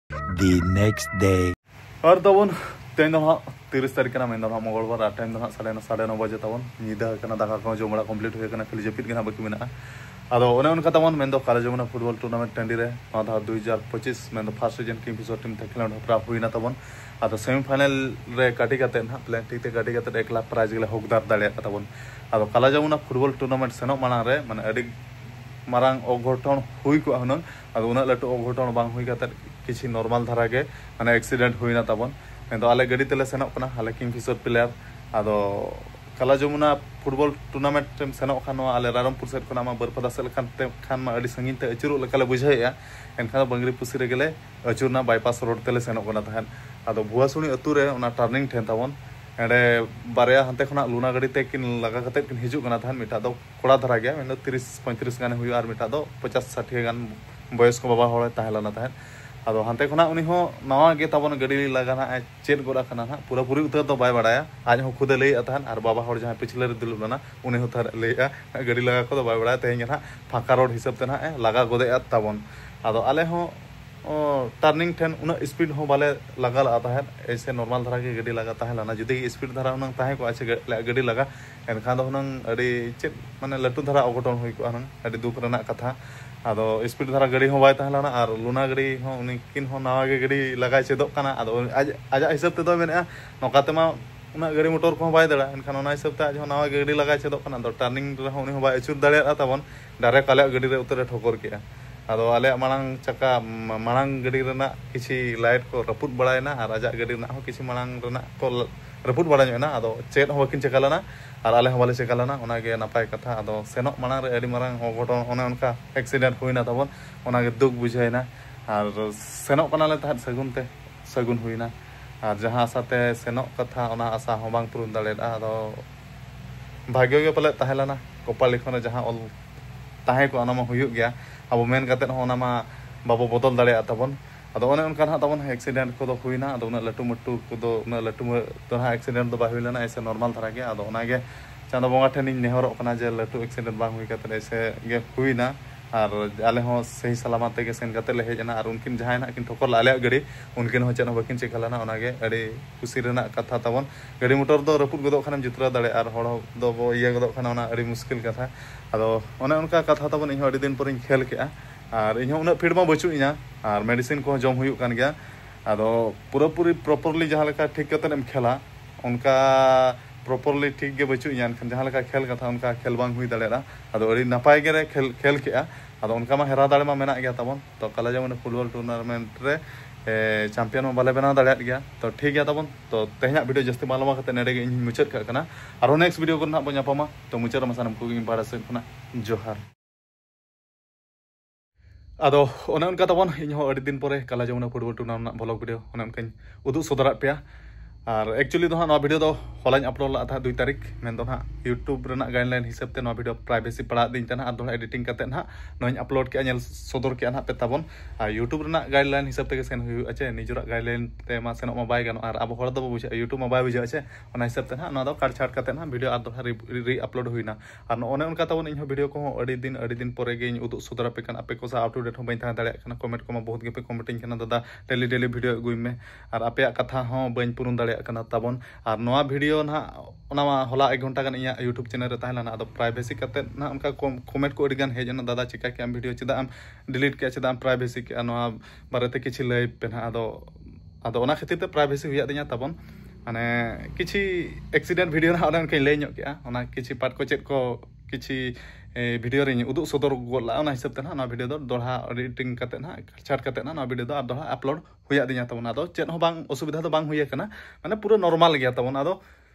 The next day. ᱟᱨ ᱛᱟᱵᱚᱱ ᱛᱮᱦᱮᱧ ᱫᱚ ᱦᱟᱸᱜ ᱛᱤᱨᱤᱥ ᱛᱟᱹᱨᱤᱠᱷ ᱠᱟᱱᱟ ᱢᱮᱱᱫᱚ ᱦᱟᱸᱜ ᱢᱚᱝᱜᱚᱞᱵᱟᱨ ᱟᱨ ᱴᱟᱭᱤᱢ ᱫᱚ ᱦᱟᱸᱜ ᱥᱟᱲᱮ ᱱᱚ ᱥᱟᱲᱮ ᱱᱚ ᱵᱟᱡᱮ ᱛᱟᱵᱚᱱ ᱧᱤᱫᱟᱹ ᱟᱠᱟᱱᱟ ᱫᱟᱠᱟ ᱠᱚᱦᱚᱸ ᱡᱚᱢ ᱵᱟᱲᱟ ᱠᱚᱢᱯᱞᱤᱴ ᱦᱩᱭ ᱟᱠᱟᱱᱟ ᱠᱷᱟᱹᱞᱤ ᱡᱟᱹᱯᱤᱫ ᱜᱮ ᱦᱟᱸᱜ ᱵᱟᱹᱠᱤ ᱢᱮᱱᱟᱜᱼᱟ ᱟᱫᱚ ᱚᱱᱮ ᱚᱱᱠᱟ ᱛᱟᱵᱚᱱ ᱢᱮᱱᱫᱚ ᱠᱟᱞᱮ ᱡᱚᱢᱩᱱᱟ ᱯᱷᱩᱴᱵᱚᱞ ᱴᱩᱨᱱᱟᱢᱮᱱᱴ ᱴᱟᱺᱰᱤ ᱨᱮ ᱱᱚᱣᱟ ᱫᱷᱟᱣ ᱫᱩ ᱦᱟᱡᱟᱨ ᱯᱚᱸᱪᱤᱥ ᱢᱮᱱᱫᱚ ᱯᱷᱟᱨᱥᱴ ᱥᱤᱡᱚᱱ ᱠᱤᱝ ᱯᱷᱤᱥᱚᱨ ᱴᱤᱢ ᱛᱮ ᱠᱷᱮᱞᱳᱰ ᱦᱮᱯᱨᱟᱣ ᱦᱩᱭᱱᱟ ᱛᱟᱵᱚᱱ ᱟᱫᱚ ᱥᱮᱢᱤ ᱯᱷᱟᱭᱱᱮᱞ ᱨᱮ ᱜᱟᱹᱰᱤ ᱠᱟᱛᱮ ᱦᱟᱸᱜ ᱯᱞᱮᱱ ᱴᱤ ᱛᱮ ᱜᱟᱹᱰᱤ ᱠᱟᱛᱮ ᱮᱠ ᱞᱟᱠᱷ ᱯᱨᱟᱭᱤᱡᱽ ᱜᱮᱞᱮ ᱦᱚᱠᱫᱟᱨ ᱫᱟᱲᱮᱭᱟᱜ ᱛᱟᱵᱚᱱ ᱟᱫᱚ ᱠᱟᱞᱟ ᱡᱚᱢᱩᱱᱟ ᱯᱷᱩᱴᱵᱚᱞ ᱴᱩᱨᱱᱟᱢᱮᱱᱴ ᱥᱮᱱᱚᱜ ᱢᱟᱲᱟᱝ ᱨᱮ ᱢᱟᱱᱮ ᱟᱹᱰᱤ ᱢᱟᱨᱟᱝ ᱚᱜᱷᱚᱴᱚᱱ ᱦᱩᱭ ᱠᱚᱜᱼᱟ ᱦᱩᱱᱟᱹᱝ ᱟᱫᱚ ᱩᱱᱟᱹᱜ ᱞᱟᱹᱴᱩ ᱚᱜᱷᱚᱴᱚᱱ ᱵᱟᱝ ᱦᱩᱭ ᱠᱟᱛᱮ ᱠᱤᱪᱷᱤ ᱱᱚᱨᱢᱟᱞ ᱫᱷᱟᱨᱟ ᱜᱮ ᱢᱟᱱᱮ ᱮᱠᱥᱤᱰᱮᱱᱴ ᱦᱩᱭᱱᱟ ᱛᱟᱵᱚᱱ ᱟᱫᱚ ᱟᱞᱮ ᱜᱟᱹᱰᱤ ᱛᱮᱞᱮ ᱥᱮᱱᱚᱜ ᱠᱟᱱᱟ ᱟᱞᱮ ᱠᱤᱝᱯᱷᱤᱥᱚᱨ ᱯᱞᱮᱭᱟᱨ ᱟᱫᱚ ᱠᱟᱞᱟ ᱡᱚᱢᱩᱱᱟ ᱯᱷᱩᱴᱵᱚᱞ ᱴᱩᱨᱱᱟᱢᱮᱱᱴ ᱨᱮᱢ ᱥᱮᱱᱚᱜ ᱠᱷᱟᱱ ᱱᱚᱣᱟ ᱟᱞᱮ ᱨᱟᱭᱨᱚᱝᱯᱩᱨ ᱥᱮᱫ ᱠᱷᱚᱱᱟᱜ ᱢᱟ ᱵᱟᱹᱨᱯᱟᱫᱟ ᱥᱮᱫ ᱞᱮᱠᱟᱱ ᱛᱮ ᱠᱷᱟᱱ ᱢᱟ ᱟᱹᱰᱤ ᱥᱟᱺᱜᱤᱧ ᱛᱮ ᱟᱹᱪᱩᱨᱚᱜ ᱞᱮᱠᱟ ᱞᱮ ᱵᱩᱡᱷᱟᱹᱣᱮᱜᱼᱟ ᱮᱱᱠᱷᱟᱱ ᱫᱚ ᱵᱟᱝᱜᱽᱨᱤ ᱯᱩᱥᱤ ᱨᱮᱜᱮ ᱞᱮ ᱟᱹᱪᱩᱨᱱᱟ ᱵᱟᱭᱯᱟᱥ ᱨᱳᱰ ᱛᱮᱞᱮ ᱥᱮᱱᱚᱜ ᱠᱟᱱᱟ ᱛᱟᱦᱮᱸᱫ ᱟᱫᱚ ᱵᱷᱩᱣᱟᱥᱩᱱᱤ ᱟᱹᱛᱩ ᱨᱮ ᱚᱱᱟ ᱴᱟᱨᱱᱤᱝ ᱴᱷᱮᱱ ᱛᱟᱵᱚᱱ ᱮᱸᱰᱮ ᱵᱟᱨᱭᱟ ᱦᱟᱱᱛᱮ ᱠᱷᱚᱱᱟᱜ ᱞᱩᱱᱟ ᱜᱟᱹᱰᱤ ᱛᱮ ᱠᱤᱱ ᱞᱟᱜᱟ ᱠᱟᱛᱮ ᱠᱤᱱ ᱦᱤᱡᱩᱜ ᱠᱟᱱᱟ ᱛᱟᱦᱮᱸᱫ ᱢᱤᱫᱴᱟᱜ ᱫᱚ ᱠᱚᱲᱟ ᱫᱷᱟᱨᱟ ᱜᱮᱭᱟ ᱢᱮᱱᱫᱚ ᱛᱤᱨᱤᱥ ᱯᱚᱸᱭᱛᱨᱤᱥ ᱜᱟᱱᱮ ᱦᱩᱭᱩᱜᱼᱟ ᱟᱨ ᱢᱤᱫᱴᱟᱜ ᱫᱚ ᱯᱚᱪᱟᱥ ᱥᱟᱴᱷᱤᱭᱟᱹ ᱜᱟᱱ ᱵᱚᱭᱚᱥ ᱠᱚ ᱵᱟᱵᱟ ᱦᱚᱲᱮ ᱛᱟᱦᱮᱸ ᱞᱮᱱᱟ ᱛᱟᱦᱮᱸᱫ ᱟᱫᱚ ᱦᱟᱱᱛᱮ ᱠᱷᱚᱱᱟᱜ ᱩᱱᱤ ᱦᱚᱸ ᱱᱟᱣᱟ ᱜᱮ ᱛᱟᱵᱚᱱ ᱜᱟᱹᱰᱤ ᱞᱟᱜᱟ ᱱᱟᱜ ᱮ ᱪᱮᱫ ᱜᱚᱫ ᱟᱠᱟᱱᱟ ᱱᱟᱜ ᱯᱩᱨᱟᱹ ᱯᱩᱨᱤ ᱩᱛᱟᱹᱨ ᱫᱚ ᱵᱟᱭ ᱵᱟᱲᱟᱭᱟ ᱟᱡ ᱦᱚᱸ ᱠᱷᱩᱫᱮ ᱞᱟᱹᱭᱮᱫ ᱛᱟᱦᱮᱸᱫ ᱟᱨ ᱵᱟᱵᱟ ᱦᱚᱲ ᱡᱟᱦᱟᱸᱭ ᱯᱤᱪᱷᱞᱮ ᱨᱮ ᱫᱩᱲᱩᱵ ᱞᱮᱱᱟ ᱩᱱᱤ ᱦᱚᱸ ᱛᱟᱦᱮᱸᱫ ᱞᱟᱹᱭᱮᱫᱼᱟ ᱜᱟᱹᱰᱤ ᱞᱟᱜᱟ ᱠᱚᱫᱚ ᱵᱟᱭ ᱵᱟᱲᱟᱭᱟ ᱛᱮᱦᱮᱧ ᱜᱮ ᱱᱟᱜ ᱯᱷᱟᱸᱠᱟ ᱨᱳᱰ ᱦᱤᱥᱟᱹᱵ ᱛᱮ ᱱᱟᱜ ᱮ ᱞᱟᱜᱟ ᱜᱚᱫᱮᱜᱼᱟ ᱛᱟᱵᱚᱱ ᱟᱫᱚ ᱟᱞᱮ ᱦᱚᱸ ᱴᱟᱨᱱᱤᱝ ᱴᱷᱮᱱ ᱩᱱᱟᱹᱜ ᱥᱯᱤᱰ ᱦᱚᱸ ᱵᱟᱞᱮ ᱞᱟᱜᱟ ᱞᱟᱜᱼᱟ ᱛᱟᱦᱮᱸᱫ ᱮᱭᱥᱮ ᱱᱚᱨᱢᱟᱞ ᱫᱷᱟᱨᱟ ᱜᱮ ᱜᱟᱹᱰᱤ ᱞᱟᱜᱟ ᱛᱟᱦᱮᱸ ᱞᱮᱱᱟ ᱡᱩᱫᱤ ᱥᱯᱤᱰ ᱫᱷᱟᱨᱟ ᱩᱱᱟᱹᱝ ᱛᱟᱦᱮᱸ ᱠᱚᱜᱼᱟ ᱥᱮ ᱜᱟᱹᱰᱤ ᱞᱟᱜᱟ ᱮᱱᱠᱷᱟᱱ ᱫᱚ ᱦᱩᱱᱟᱹᱝ ᱟᱹᱰᱤ ᱪᱮᱫ ᱢᱟᱱᱮ ᱞᱟᱹᱴᱩ ᱫᱷᱟᱨᱟ ᱚᱜᱷᱚᱴᱚᱱ ᱦᱩᱭ ᱠᱚᱜᱼᱟ ᱦᱩᱱᱟᱹᱝ ᱟᱹᱰᱤ ᱫᱩᱠ ᱨᱮᱱᱟᱜ ᱠᱟᱛᱷᱟ ᱟᱫᱚ ᱥᱯᱤᱰ ᱫᱷᱟᱨᱟ ᱜᱟᱹᱰᱤ ᱦᱚᱸ ᱵᱟᱭ ᱛᱟᱦᱮᱸ ᱞᱮᱱᱟ ᱟᱨ ᱞᱩᱱᱟ ᱜᱟᱹᱰᱤ ᱦᱚᱸ ᱩᱱᱤ ᱠᱤᱱ ᱦᱚᱸ ᱱᱟᱣᱟ ᱜᱮ ᱜᱟᱹᱰᱤ ᱞᱟᱜᱟᱭ ᱪᱮᱫᱚᱜ ᱠᱟᱱᱟ ᱟᱫᱚ ᱟᱡ ᱟᱡᱟᱜ ᱦᱤᱥᱟᱹᱵ ᱛᱮᱫᱚ ᱢᱮᱱᱮᱜᱼᱟ ᱱᱚᱝᱠᱟ ᱛᱮᱢᱟ ᱩᱱᱟᱹᱜ ᱜᱟᱹᱰᱤ ᱢᱚᱴᱚᱨ ᱠᱚᱦᱚᱸ ᱵᱟᱭ ᱫᱟᱹᱲᱟ ᱮᱱᱠᱷᱟᱱ ᱚᱱᱟ ᱦᱤᱥᱟᱹᱵ ᱛᱮ ᱟᱡ ᱦᱚᱸ ᱱᱟᱣᱟ ᱜᱮ ᱜᱟᱹᱰᱤ ᱞᱟᱜᱟᱭ ᱪᱮᱫᱚᱜ ᱠᱟᱱᱟ ᱟᱫᱚ ᱴᱟᱨᱱᱤᱝ ᱨᱮᱦᱚᱸ ᱩᱱᱤ ᱦᱚᱸ ᱵᱟᱭ ᱟᱹᱪᱩᱨ ᱫᱟᱲᱮᱭᱟᱫᱼᱟ ᱛᱟᱵᱚᱱ ᱰᱟᱭᱨᱮᱠᱴ ᱟᱞᱮᱭᱟᱜ ᱜᱟᱹᱰᱤ ᱨᱮ ᱩᱛᱟᱹᱨᱮ ᱴᱷᱚᱠᱚᱨ ᱠᱮᱜᱼᱟ ᱟᱫᱚ ᱟᱞᱮᱭᱟᱜ ᱢᱟᱲᱟᱝ ᱪᱟᱠᱟ ᱢᱟᱲᱟᱝ ᱜᱟᱹᱰᱤ ᱨᱮᱱᱟᱜ ᱠᱤᱪᱷᱤ ᱞᱟᱭᱤᱴ ᱠᱚ ᱨᱟᱹᱯᱩᱫ ᱵᱟᱲᱟᱭᱮᱱᱟ ᱟᱨ ᱟᱡᱟᱜ ᱜᱟᱹᱰᱤ ᱨᱮᱱᱟᱜ ᱦᱚᱸ ᱠᱤᱪᱷᱤ ᱢᱟᱲᱟᱝ ᱨᱮᱱᱟᱜ ᱠᱚ ᱨᱟᱹᱯᱩᱫ ᱵᱟᱲᱟ ᱧᱚᱜ ᱮᱱᱟ ᱟᱫᱚ ᱪᱮᱫ ᱦᱚᱸ ᱵᱟᱹᱠᱤᱱ ᱪᱮᱠᱟ ᱞᱮᱱᱟ ᱟᱨ ᱟᱞᱮ ᱦᱚᱸ ᱵᱟᱞᱮ ᱪᱮᱠᱟ ᱞᱮᱱᱟ ᱚᱱᱟ ᱜᱮ ᱱᱟᱯᱟᱭ ᱠᱟᱛᱷᱟ ᱟᱫᱚ ᱥᱮᱱᱚᱜ ᱢᱟᱲᱟᱝ ᱨᱮ ᱟᱹᱰᱤ ᱢᱟᱨᱟᱝ ᱚᱜᱷᱚᱴᱚᱱ ᱚᱱᱮ ᱚᱱᱠᱟ ᱮᱠᱥᱤᱰᱮᱱᱴ ᱦᱩᱭᱱᱟ ᱛᱟᱵᱚᱱ ᱚᱱᱟ ᱜᱮ ᱫᱩᱠ ᱵᱩᱡᱷᱟᱹᱣᱮᱱᱟ ᱟᱨ ᱥᱮᱱᱚᱜ ᱠᱟᱱᱟ ᱞᱮ ᱛᱟᱦᱮᱸᱫ ᱥᱟᱹᱜᱩᱱ ᱛᱮ ᱥᱟᱹᱜᱩᱱ ᱦᱩᱭᱱᱟ ᱟᱨ ᱡᱟᱦᱟᱸ ᱟᱥᱟ ᱛᱮ ᱥᱮᱱᱚᱜ ᱠᱟᱛᱷᱟ ᱚᱱᱟ ᱟᱥᱟ ᱦᱚᱸ ᱵᱟᱝ ᱯᱩᱨᱩᱱ ᱫᱟᱲᱮᱭᱟᱫᱟ ᱟᱫᱚ ᱵᱷᱟᱜᱽᱭᱚ ᱜᱮ ᱯᱟᱞᱮ ᱛᱟᱦᱮᱸ ᱞᱮᱱᱟ ᱠᱚᱯᱟᱞ ᱞᱤᱠᱷᱚᱱ ᱨᱮ ᱡᱟᱦᱟᱸ ᱚᱞ ᱛᱟᱦᱮᱸ ᱠᱚᱜᱼᱟ ᱚᱱᱟ ᱢᱟ ᱦᱩᱭᱩᱜ ᱜᱮᱭᱟ ᱟᱵᱚ ᱢᱮᱱ ᱠᱟᱛᱮᱫ ᱦᱚᱸ ᱚᱱᱟ ᱢᱟ ᱵᱟᱵᱚ ᱵᱚᱫᱚᱞ ᱫᱟᱲᱮᱭᱟᱜᱼᱟ ᱛᱟᱵᱚᱱ ᱟᱫᱚ ᱚᱱᱮ ᱚᱱᱠᱟ ᱱᱟᱦᱟᱜ ᱛᱟᱵᱚᱱ ᱮᱠᱥᱤᱰᱮᱱᱴ ᱠᱚᱫᱚ ᱦᱩᱭᱱᱟ ᱟᱫᱚ ᱩᱱᱟᱹᱜ ᱞᱟᱹᱴᱩ ᱢᱟᱹᱴᱩ ᱠᱚᱫᱚ ᱩᱱᱟᱹᱜ ᱞᱟᱹᱴᱩ ᱫᱚ ᱱᱟᱦᱟᱜ ᱮᱠᱥᱤᱰᱮᱱᱴ ᱫᱚ ᱵᱟᱭ ᱦᱩᱭ ᱞᱮᱱᱟ ᱮᱭᱥᱮ ᱱᱚᱨᱢᱟᱞ ᱫᱷᱟᱨᱟ ᱜᱮ ᱟᱫᱚ ᱚᱱᱟᱜᱮ ᱪᱟᱸᱫᱚ ᱵᱚᱸᱜᱟ ᱴᱷᱮᱱᱤᱧ ᱱᱮᱦᱚᱨᱚᱜ ᱠᱟᱱᱟ ᱡᱮ ᱞᱟᱹᱴᱩ ᱮᱠᱥᱤᱰᱮᱱᱴ ᱵᱟᱝ ᱦᱩᱭ ᱠᱟᱛᱮ ᱮᱭᱥᱮ ᱜᱮ ᱦᱩᱭᱱᱟ ᱟᱨ ᱟᱞᱮ ᱦᱚᱸ ᱥᱟᱹᱦᱤ ᱥᱟᱞᱟᱢᱟᱛ ᱛᱮᱜᱮ ᱥᱮᱱ ᱠᱟᱛᱮ ᱞᱮ ᱦᱮᱡ ᱮᱱᱟ ᱟᱨ ᱩᱱᱠᱤᱱ ᱡᱟᱦᱟᱸᱭ ᱱᱟᱦᱟᱜ ᱠᱤᱱ ᱴᱷᱚᱠᱚᱨ ᱞᱮᱫ ᱟᱞᱮᱭᱟᱜ ᱜᱟᱹᱰᱤ ᱩᱱᱠᱤᱱ ᱦᱚᱸ ᱪᱮᱫ ᱦᱚᱸ ᱵᱟᱹᱠᱤᱱ ᱪᱤᱠᱟᱹ ᱞᱮᱱᱟ ᱚᱱᱟᱜᱮ ᱟᱹᱰᱤ ᱠᱩᱥᱤ ᱨᱮᱱᱟᱜ ᱠᱟᱛᱷᱟ ᱛᱟᱵᱚᱱ ᱜᱟᱹᱰᱤ ᱢᱚᱴᱚᱨ ᱫᱚ ᱨᱟᱹᱯᱩᱫ ᱜᱚᱫᱚᱜ ᱠᱷᱟᱱᱮᱢ ᱡᱩᱛᱨᱟᱹᱣ ᱫᱟᱲᱮᱭᱟᱜᱼᱟ ᱟᱨ ᱦᱚᱲ ᱫᱚ ᱵᱚ ᱤᱭᱟᱹ ᱜᱚᱫᱚᱜ ᱠᱷᱟᱱ ᱚᱱᱟ ᱟᱹᱰᱤ ᱢᱩᱥᱠᱤᱞ ᱠᱟᱛᱷᱟ ᱟᱫᱚ ᱚᱱᱮ ᱚᱱᱠᱟ ᱠᱟᱛᱷᱟ ᱛᱟᱵᱚᱱ ᱤᱧᱦᱚᱸ ᱟᱹᱰᱤ ᱫᱤᱱ ᱯᱚᱨᱮᱧ ᱠᱷᱮᱞ ᱠᱮᱜᱼᱟ ᱟᱨ ᱤᱧ ᱦᱚᱸ ᱩᱱᱟᱹᱜ ᱯᱷᱤᱴ ᱢᱟ ᱵᱟᱹᱪᱩᱜ ᱤᱧᱟ ᱟᱨ ᱢᱮᱰᱤᱥᱤᱱ ᱠᱚᱦᱚᱸ ᱡᱚᱢ ᱦᱩᱭᱩᱜ ᱠᱟᱱ ᱜᱮᱭᱟ ᱟᱫᱚ ᱯᱩᱨᱟᱹᱯᱩᱨᱤ ᱯᱨᱚᱯᱚᱨᱞᱤ ᱡᱟᱦᱟᱸ ᱞᱮᱠᱟ ᱴᱷᱤᱠ ᱠᱟᱛᱮ ᱮᱢ ᱠᱷᱮᱞᱟ ᱚᱱᱠᱟ ᱯᱨᱚᱯᱚᱨᱞᱤ ᱴᱷᱤᱠ ᱜᱮ ᱵᱟᱹᱪᱩᱜ ᱤᱧᱟ ᱮᱱᱠᱷᱟᱱ ᱡᱟᱦᱟᱸ ᱞᱮᱠᱟ ᱠᱷᱮᱞ ᱠᱟᱛᱷᱟ ᱚᱱᱠᱟ ᱠᱷᱮᱞ ᱵᱟᱝ ᱦᱩᱭ ᱫᱟᱲᱮᱭᱟᱫᱟ ᱟᱫᱚ ᱟᱹᱰᱤ ᱱᱟᱯᱟᱭ ᱜᱮᱞᱮ ᱠᱷᱮᱞ ᱠᱷᱮᱞ ᱠᱮᱜᱼᱟ ᱟᱫᱚ ᱚᱱᱠᱟ ᱢᱟ ᱦᱮᱨᱟᱣ ᱫᱟᱲᱮ ᱢᱟ ᱢᱮᱱᱟᱜ ᱜᱮᱭᱟ ᱛᱟᱵᱚᱱ ᱛᱚ ᱠᱟᱞᱟ ᱡᱟᱢᱩᱱᱤ ᱯᱷᱩᱴᱵᱚᱞ ᱴᱩᱨᱱᱟᱢᱮᱱᱴ ᱨᱮ ᱪᱟᱢᱯᱤᱭᱟᱱ ᱢᱟ ᱵᱟᱞᱮ ᱵᱮᱱᱟᱣ ᱫᱟᱲᱮᱭᱟᱫ ᱜᱮᱭᱟ ᱛᱚ ᱴᱷᱤᱠ ᱜᱮᱭᱟ ᱛᱟᱵᱚᱱ ᱛᱚ ᱛᱮᱦᱮᱧᱟᱜ ᱵᱷᱤᱰᱤᱭᱳ ᱡᱟᱹᱥᱛᱤ ᱵᱟᱝ ᱞᱚᱢᱵᱟ ᱠᱟᱛᱮ ᱱᱮᱰᱮ ᱜᱮ ᱤᱧ ᱢᱩᱪᱟᱹᱫ ᱠᱟᱜ ᱠᱟᱱᱟ ᱟᱨᱦᱚᱸ ᱱᱮᱠᱥᱴ ᱵᱷᱤᱰᱤᱭᱳ ᱠᱚᱨᱮ ᱱᱟᱜ ᱵᱚᱱ ᱧᱟᱯᱟᱢᱟ ᱛᱚ ᱢᱩᱪᱟᱹᱫ ᱨᱮ ᱢᱟ ᱥᱟᱱᱟᱢ ᱠᱚᱜᱮ ᱤᱧ ᱯᱟᱦᱴᱟ ᱥᱮᱫ ᱠᱷᱚᱱᱟᱜ ᱡᱚᱦᱟᱨ ᱟᱫᱚ ᱚᱱᱮ ᱚᱱᱠᱟ ᱛᱟᱵᱚᱱ ᱤᱧ ᱦᱚᱸ ᱟᱹᱰᱤ ᱫᱤᱱ ᱯᱚᱨᱮ Kala Jamuna football tournament vlog video ᱚᱱᱮ ᱚᱱᱠᱟᱧ ᱩᱫᱩᱜ ᱥᱚᱫᱚᱨᱟᱫ ᱯᱮᱭᱟ ᱟᱨ ᱮᱠᱪᱩᱭᱮᱞᱤ ᱫᱚ ᱦᱟᱸᱜ ᱱᱚᱣᱟ ᱵᱷᱤᱰᱤᱭᱳ ᱫᱚ ᱦᱚᱞᱟᱧ ᱟᱯᱞᱳᱰ ᱞᱟᱜ ᱛᱟᱦᱮᱸᱫ ᱫᱩᱭ ᱛᱟᱹᱨᱤᱠᱷ ᱢᱮᱱ ᱫᱚ ᱦᱟᱸᱜ ᱤᱭᱩᱴᱩᱵᱽ ᱨᱮᱱᱟᱜ ᱜᱟᱭᱤᱰᱞᱟᱭᱤᱱ ᱦᱤᱥᱟᱹᱵ ᱛᱮ ᱱᱚᱣᱟ ᱵᱷᱤᱰᱤᱭᱳ ᱯᱨᱟᱭᱵᱷᱮᱥᱤ ᱯᱟᱲᱟᱜ ᱫᱤᱧ ᱛᱟᱦᱮᱸᱫ ᱟᱨ ᱫᱚᱲᱦᱟ ᱮᱰᱤᱴᱤᱝ ᱠᱟᱛᱮ ᱦᱟᱸᱜ ᱱᱚᱣᱟᱧ ᱟᱯᱞᱳᱰ ᱠᱮᱜᱼᱟ ᱧᱮᱞ ᱥᱚᱫᱚᱨ ᱠᱮᱜᱼᱟ ᱦᱟᱸᱜ ᱯᱮ ᱛᱟᱵᱚᱱ ᱟᱨ ᱤᱭᱩᱴᱩᱵᱽ ᱨᱮᱱᱟᱜ ᱜᱟᱭᱤᱰᱞᱟᱭᱤᱱ ᱦᱤᱥᱟᱹᱵ ᱛᱮᱜᱮ ᱥᱮᱱ ᱦᱩᱭᱩᱜᱼᱟ ᱪᱮ ᱱᱤᱡᱮᱨᱟᱜ ᱜᱟᱭᱤᱰᱞᱟᱭᱤᱱ ᱛᱮ ᱢᱟ ᱥᱮᱱᱚᱜ ᱢᱟ ᱵᱟᱭ ᱜᱟᱱᱚᱜᱼᱟ ᱟᱨ ᱟᱵᱚ ᱦᱚᱲ ᱫᱚ ᱵᱩᱡᱷᱟᱹᱜᱼᱟ ᱤᱭᱩᱴᱩᱵᱽ ᱢᱟ ᱵᱟᱭ ᱵᱩᱡᱷᱟᱹᱜᱼᱟ ᱪᱮ ᱚᱱᱟ ᱦᱤᱥᱟᱹᱵ ᱛᱮ ᱦᱟᱸᱜ ᱱᱚᱣᱟ ᱫᱚ ᱠᱟᱴ ᱪᱷᱟᱴ ᱠᱟᱛᱮ ᱦᱟᱸᱜ ᱵᱷᱤᱰᱤᱭᱳ ᱟᱨ ᱫᱚᱲᱦᱟ ᱨᱤ ᱟᱯᱞᱳᱰ ᱦᱩᱭᱱᱟ ᱟᱨ ᱱᱚᱜᱼᱚ ᱚᱱᱠᱟ ᱛᱟᱵᱚᱱ ᱤᱧᱦᱚᱸ ᱵᱷᱤᱰᱤᱭᱳ ᱠᱚᱦᱚᱸ ᱟᱹᱰᱤ ᱫᱤᱱ ᱟᱹᱰᱤ ᱫᱤᱱ ᱯᱚᱨᱮ ᱜᱮᱧ ᱩᱫᱩᱜ ᱥᱚᱫᱚᱨ ᱟᱯᱮ ᱠᱟᱱᱟ ᱟᱯᱮ ᱠᱚ ᱥᱟᱶ ᱟᱯ ᱴᱩ ᱰᱮᱴ ᱦᱚᱸ ᱵᱟᱹᱧ ᱛᱟᱦᱮᱸ ᱫᱟᱲᱮᱭᱟᱜ ᱠᱟᱱᱟ ᱠᱚᱢᱮᱱᱴ ᱠᱚᱢᱟ ᱵᱚᱦᱩᱛ ᱜᱮᱯᱮ ᱠᱚᱢᱮᱱᱴᱤᱧ ᱠᱟᱱᱟ ᱫᱟᱫᱟ ᱰᱮᱞᱤ ᱰᱮᱞᱤ ᱵᱷᱤᱰᱤᱭᱳ ᱟᱹᱜᱩᱭ ᱢᱮ ᱟᱨ ᱟᱯᱮᱭᱟᱜ ᱠᱟᱛᱷᱟ ᱦᱚᱸ ᱵᱟᱹᱧ ᱯᱩᱨᱩᱱ ᱫᱟᱲᱮᱭᱟᱜ ᱠᱟᱱᱟ ᱛᱟᱵᱚᱱ ᱟᱨ ᱱᱚᱣᱟ ᱵᱷᱤᱰᱤᱭᱳ ᱱᱟᱦᱟᱜ ᱚᱱᱟ ᱢᱟ ᱦᱚᱞᱟ ᱮᱠ ᱜᱷᱚᱱᱴᱟ ᱜᱟᱱ ᱤᱧᱟᱹᱜ ᱤᱭᱩᱴᱩᱵᱽ ᱪᱮᱱᱮᱞ ᱨᱮ ᱛᱟᱦᱮᱸ ᱞᱮᱱᱟ ᱟᱫᱚ ᱯᱨᱟᱭᱵᱷᱮᱥᱤ ᱠᱟᱛᱮ ᱱᱟᱦᱟᱜ ᱚᱱᱠᱟ ᱠᱚᱢᱮᱱᱴ ᱠᱚ ᱟᱹᱰᱤ ᱜᱟᱱ ᱦᱮᱡ ᱮᱱᱟ ᱫᱟᱫᱟ ᱪᱤᱠᱟ ᱠᱮᱜ ᱟᱢ ᱵᱷᱤᱰᱤᱭᱳ ᱪᱮᱫᱟᱜ ᱮᱢ ᱰᱤᱞᱤᱴ ᱠᱮᱜᱼᱟ ᱪᱮᱫᱟᱜ ᱮᱢ ᱯᱨᱟᱭᱵᱷᱮᱥᱤ ᱠᱮᱜᱼᱟ ᱱᱚᱣᱟ ᱵᱟᱨᱮᱛᱮ ᱠᱤᱪᱷᱤ ᱞᱟᱹᱭ ᱯᱮ ᱱᱟᱦᱟᱜ ᱟᱫᱚ ᱟᱫᱚ ᱚᱱᱟ ᱠᱷᱟᱹᱛᱤᱨ ᱛᱮ ᱯᱨᱟᱭᱵᱷᱮᱥᱤ ᱦᱩᱭᱟᱜ ᱛᱤᱧᱟ ᱛᱟᱵᱚᱱ ᱢᱟᱱᱮ ᱠᱤᱪᱷᱤ ᱮᱠᱥᱤᱰᱮᱱᱴ ᱵᱷᱤᱰᱤᱭᱳ ᱱᱟᱦᱟᱜ ᱚᱱᱮ ᱚᱱᱠᱟᱧ ᱞᱟᱹᱭ ᱧᱚᱜ ᱠᱮᱜᱼᱟ ᱚᱱᱟ ᱠᱤᱪᱷᱤ ᱯᱟᱴ ᱠᱚ ᱪᱮᱫ ᱠᱚ ᱠᱤᱪᱷᱤ ᱵᱷᱤᱰᱤᱭᱳ ᱨᱤᱧ ᱩᱫᱩᱜ ᱥᱚᱫᱚᱨ ᱜᱚᱫ ᱞᱟᱜᱼᱟ ᱚᱱᱟ ᱦᱤᱥᱟᱹᱵ ᱛᱮ ᱱᱟᱦᱟᱜ ᱱᱚᱣᱟ ᱵᱷᱤᱰᱤᱭᱳ ᱫᱚ ᱫᱚᱲᱦᱟ ᱮᱰᱤᱴᱤᱝ ᱠᱟᱛᱮ ᱱᱟᱦᱟᱜ ᱠᱟᱴᱪᱷᱟᱴ ᱠᱟᱛᱮ ᱱᱟᱦᱟᱜ ᱱᱚᱣᱟ ᱵᱷᱤᱰᱤᱭᱳ ᱫᱚ ᱟᱨ ᱫᱚᱲᱦᱟ ᱟᱯᱞᱳᱰ ᱦᱩᱭᱟᱜ ᱛᱤᱧᱟ ᱛᱟᱵᱚᱱ ᱟᱫᱚ ᱪᱮᱫ ᱦᱚᱸ ᱵᱟᱝ ᱚᱥᱩᱵᱤᱫᱷᱟ ᱫᱚ ᱵᱟᱝ ᱦᱩᱭ ᱟᱠᱟᱱᱟ ᱢᱟᱱᱮ ᱯᱩᱨᱟᱹ ᱱᱚᱨᱢᱟᱞ ᱜᱮᱭᱟ ᱛᱟᱵᱚᱱ ᱟᱫᱚ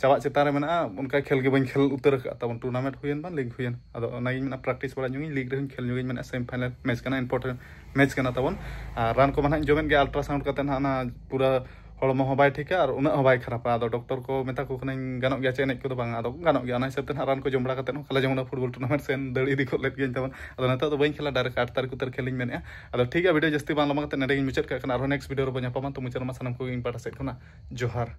ᱪᱟᱞᱟᱜ ᱪᱮᱛᱟᱱ ᱨᱮ ᱢᱮᱱᱟᱜᱼᱟ ᱚᱱᱠᱟ ᱠᱷᱮᱞ ᱜᱮ ᱵᱟᱹᱧ ᱠᱷᱮᱞ ᱩᱛᱟᱹᱨ ᱟᱠᱟᱫ ᱛᱟᱵᱚᱱ ᱴᱩᱨᱱᱟᱢᱮᱱᱴ ᱦᱩᱭᱮᱱ ᱵᱟᱝ ᱞᱤᱜᱽ ᱦᱩᱭᱮᱱ ᱟᱫᱚ ᱚᱱᱟᱜᱤᱧ ᱢᱮᱱᱟ ᱯᱨᱮᱠᱴᱤᱥ ᱵᱟᱲᱟ ᱧᱚᱜᱤᱧ ᱞᱤᱜᱽ ᱨᱮᱦᱚᱸᱧ ᱠᱷᱮᱞ ᱧᱚᱜᱤᱧ ᱢᱮᱱᱟ ᱥᱮᱢᱤ ᱯᱷᱟᱭᱱᱟᱞ ᱢᱮᱪ ᱠᱟᱱᱟ ᱤᱢᱯᱚᱨᱴᱮᱱᱴ ᱢᱮᱪ ᱠᱟᱱᱟ ᱛᱟᱵᱚᱱ ᱟᱨ ᱨᱟᱱ ᱠᱚᱢᱟ ᱱᱟᱦᱟᱜ ᱡᱚᱢᱮᱫ ᱜᱮ ᱟᱞᱴᱨᱟᱥᱟᱣᱩᱱᱰ ᱠᱟᱛᱮ ᱱᱟᱦᱟᱜ ᱚᱱᱟ ᱯᱩᱨᱟᱹ ᱦᱚᱲᱢᱚ ᱦᱚᱸ ᱵᱟᱭ ᱴᱷᱤᱠᱟ ᱟᱨ ᱩᱱᱟᱹᱜ ᱦᱚᱸ ᱵᱟᱭ ᱠᱷᱟᱨᱟᱯᱟ ᱟᱫᱚ ᱰᱚᱠᱴᱚᱨ ᱠᱚ ᱢᱮᱛᱟ ᱠᱚ ᱠᱟᱹᱱᱟᱹᱧ ᱜᱟᱱᱚᱜ ᱜᱮᱭᱟ ᱪᱮ ᱮᱱᱮᱡ ᱠᱚᱫᱚ ᱵᱟᱝ ᱟᱫᱚ ᱜᱟᱱᱚᱜ ᱜᱮᱭᱟ ᱚᱱᱟ ᱦᱤᱥᱟᱹᱵ ᱛᱮ ᱱᱟᱦᱟᱜ ᱨᱟᱱ ᱠᱚ ᱡᱚᱢ ᱵᱟᱲᱟ ᱠᱟᱛᱮ ᱦᱚᱸ ᱠᱟᱞᱮ ᱡᱮᱢᱚᱱ ᱯᱷᱩᱴᱵᱚᱞ ᱴᱩᱨᱱᱟᱢᱮᱱᱴ ᱥᱮᱱ ᱫᱟᱹᱲ ᱤᱫᱤ ᱠᱚ ᱞᱮᱫ ᱜᱤᱭᱟᱹᱧ ᱛᱟᱵᱚᱱ ᱟᱫᱚ ᱱᱤᱛᱚᱜ ᱫᱚ ᱵᱟᱹᱧ ᱠᱷᱮᱞᱟ ᱰᱟᱭᱨᱮᱠᱴ ᱟᱴ ᱛᱟᱹᱨᱤᱠᱷ ᱩᱛᱟᱹᱨ ᱠᱷᱮᱞᱤᱧ ᱢᱮᱱᱮᱫᱼᱟ ᱟᱫᱚ ᱴᱷᱤᱠ ᱜᱮᱭᱟ ᱵᱷᱤᱰᱤᱭᱳ ᱡᱟᱹᱥᱛᱤ ᱵᱟᱝ ᱞᱚᱢᱵᱟ ᱠᱟᱛᱮ ᱱᱮᱰᱮᱜᱤᱧ ᱢᱩᱪᱟᱹᱫ ᱠᱟᱜ ᱠᱟᱱᱟ ᱟᱨᱦᱚᱸ ᱱᱮᱠᱥᱴ ᱵᱷᱤᱰᱤᱭᱳ ᱨᱮᱵᱚᱱ ᱧᱟᱯᱟᱢᱟ ᱛᱚ ᱢᱩᱪᱟᱹᱫ ᱨᱮᱢᱟ ᱥᱟᱱᱟᱢ ᱠᱚᱜᱮ ᱤᱧ ᱯᱟᱦᱴᱟ ᱥᱮᱫ ᱠᱷᱚᱱᱟᱜ ᱡᱚᱦᱟᱨ